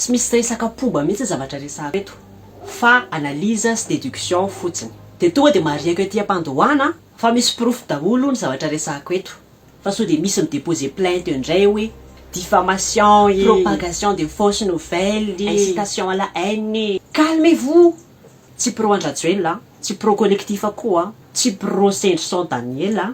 Tsy misy resaka pomba mihitsy zavatra resahako eto fa analyse sy déduction fotsiny. Dia tonga dia marihiko ety am-pandohana fa misy porofo daholo ny zavatra resahako eto fa sao dia misy mi-déposer plainte eo indray hoe diffamation e, propagation de fausse nouvelle e, incitation à la haine e. Calmez vous! Tsy pro an-dRajoelina aho, tsy pro collectif aho koa, tsy pro Sendrison Daniela.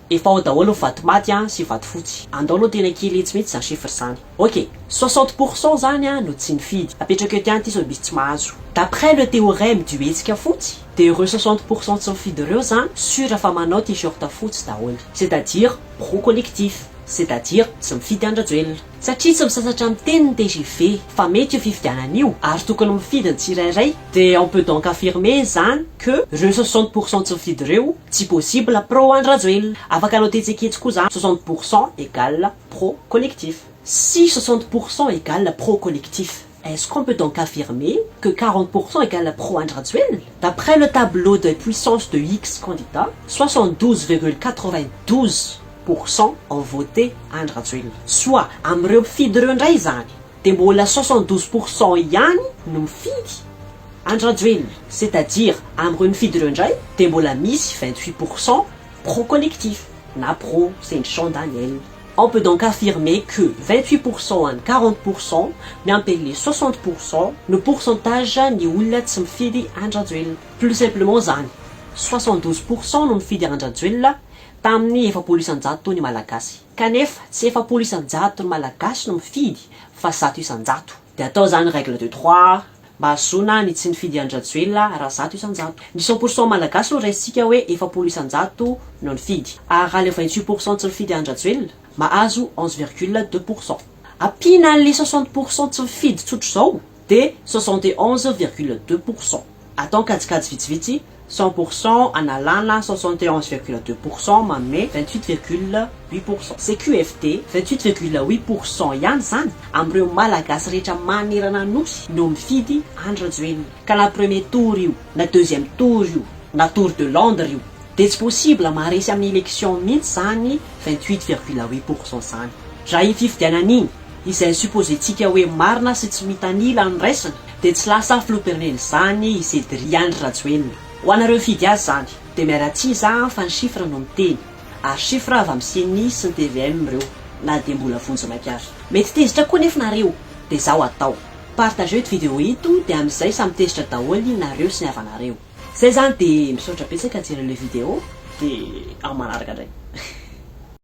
Efa ao daholo ny vato maty an sy vato fotsy. Andao aloha tena kely etsy mihitsy zany chiffre zany. Ok, soixante pour cent zany an no tsy nifidy. Apetrako eo tian ty sao misy tsy mahazo. D'après le théorème du hetsika fotsy, de ireo soixante pour cent tsy mifidy ireo zan sur fa manao t-shirt fotsy daholo. C'est à dire pro collectif. C'est à dire tsy mifidy an-dRajoelina. satria tsy misasatra miteny ny tgv fa mety io fifidianana io ary tokony mifidy ny tsirairay dia on peut donc affirmer izany que reo soixante pour cent tsy mifidy reo tsy possible pro Andry Rajoelina afaka anao tetseketsy koa za soixante pour cent egal pro collectif sy soixante pour cent egal pro collectif Est-ce qu'on peut donc affirmer que quarante pour cent égale pro Andry Rajoelina? D'après le tableau des puissances de X candidats, soixante douze virgule quatre-vingt douze pour cent ont voté Andry Rajoelina. Soit amin'ireo mpifidy ireo indray izany dia mbola soixante douze pour cent ihany no mifidy Andry Rajoelina. C'est-à-dire amin'ireo nifidy ireo indray dia mbola misy vingt-huit pour cent pro-collectif na pro sendri-Jean Daniel. On peut donc affirmer que vingt huit pour cent any quarante pour cent miampy an'le soixante pour cent no pourcentage ny olona tsy mifidy an-dRajoelina. Plus simplement zany, soixante douze pour cent no nifidy an-dRajoelina tamin'ny efapolo isan-jato ny Malagasy. Kanefa tsy efapolo isan-jato ny Malagasy no mifidy fa zato isan-jato. Dia atao izany règle de trois mba hahazoana ny tsy nifidy an'i Rajoelina raha zato isan-jato. Ny cent pour cent malagasy no raisintsika hoe efapolo isan-jato no nifidy. Ary raha ilay vingt huit pour cent tsy nifidy an'i Rajoelina, mahazo onze virgule deux pour cent. Ampiana an'ilay soixante pour cent tsy mifidy tsotra izao dia soixante et onze virgule deux pour cent. Atao kajikajy vitsivitsy, cent pour cent analana soixante et onze virgule deux pour cent manome vingt huit virgule huit pour cent. CQFD, vingt huit virgule huit pour cent ihany izany amin'ireo Malagasy rehetra manerana Anosy no mifidy Andry Rajoelina. Ka na premier tour io, na deuxième tour io, na tour de Londres io, dia tsy possible maharesy amin'ny élection mihitsy izany vingt huit virgule huit pour cent izany. Raha iny fifidianana iny, izay supposentsika hoe marina sy tsy mitanila ny raisina, dia tsy lasa filoham-pirenen'izany i Cedri Andry Rajoelina. Ho anareo hifidy azy izany, dia miala tsihy za an fa ny chiffre no miteny, ary chiffre avy amin'ny ceni sy ny tvm ireo, na dia mbola vonjy maika ary. Mety tezitra koa nefa nareo, dia zao hatao, partageo ito video ito dia amin'izay samy tezitra daholo nareo sy ny havanareo. Zay zany dia misaotra betsaka jereo le video dia amin'ny manaraka ndray.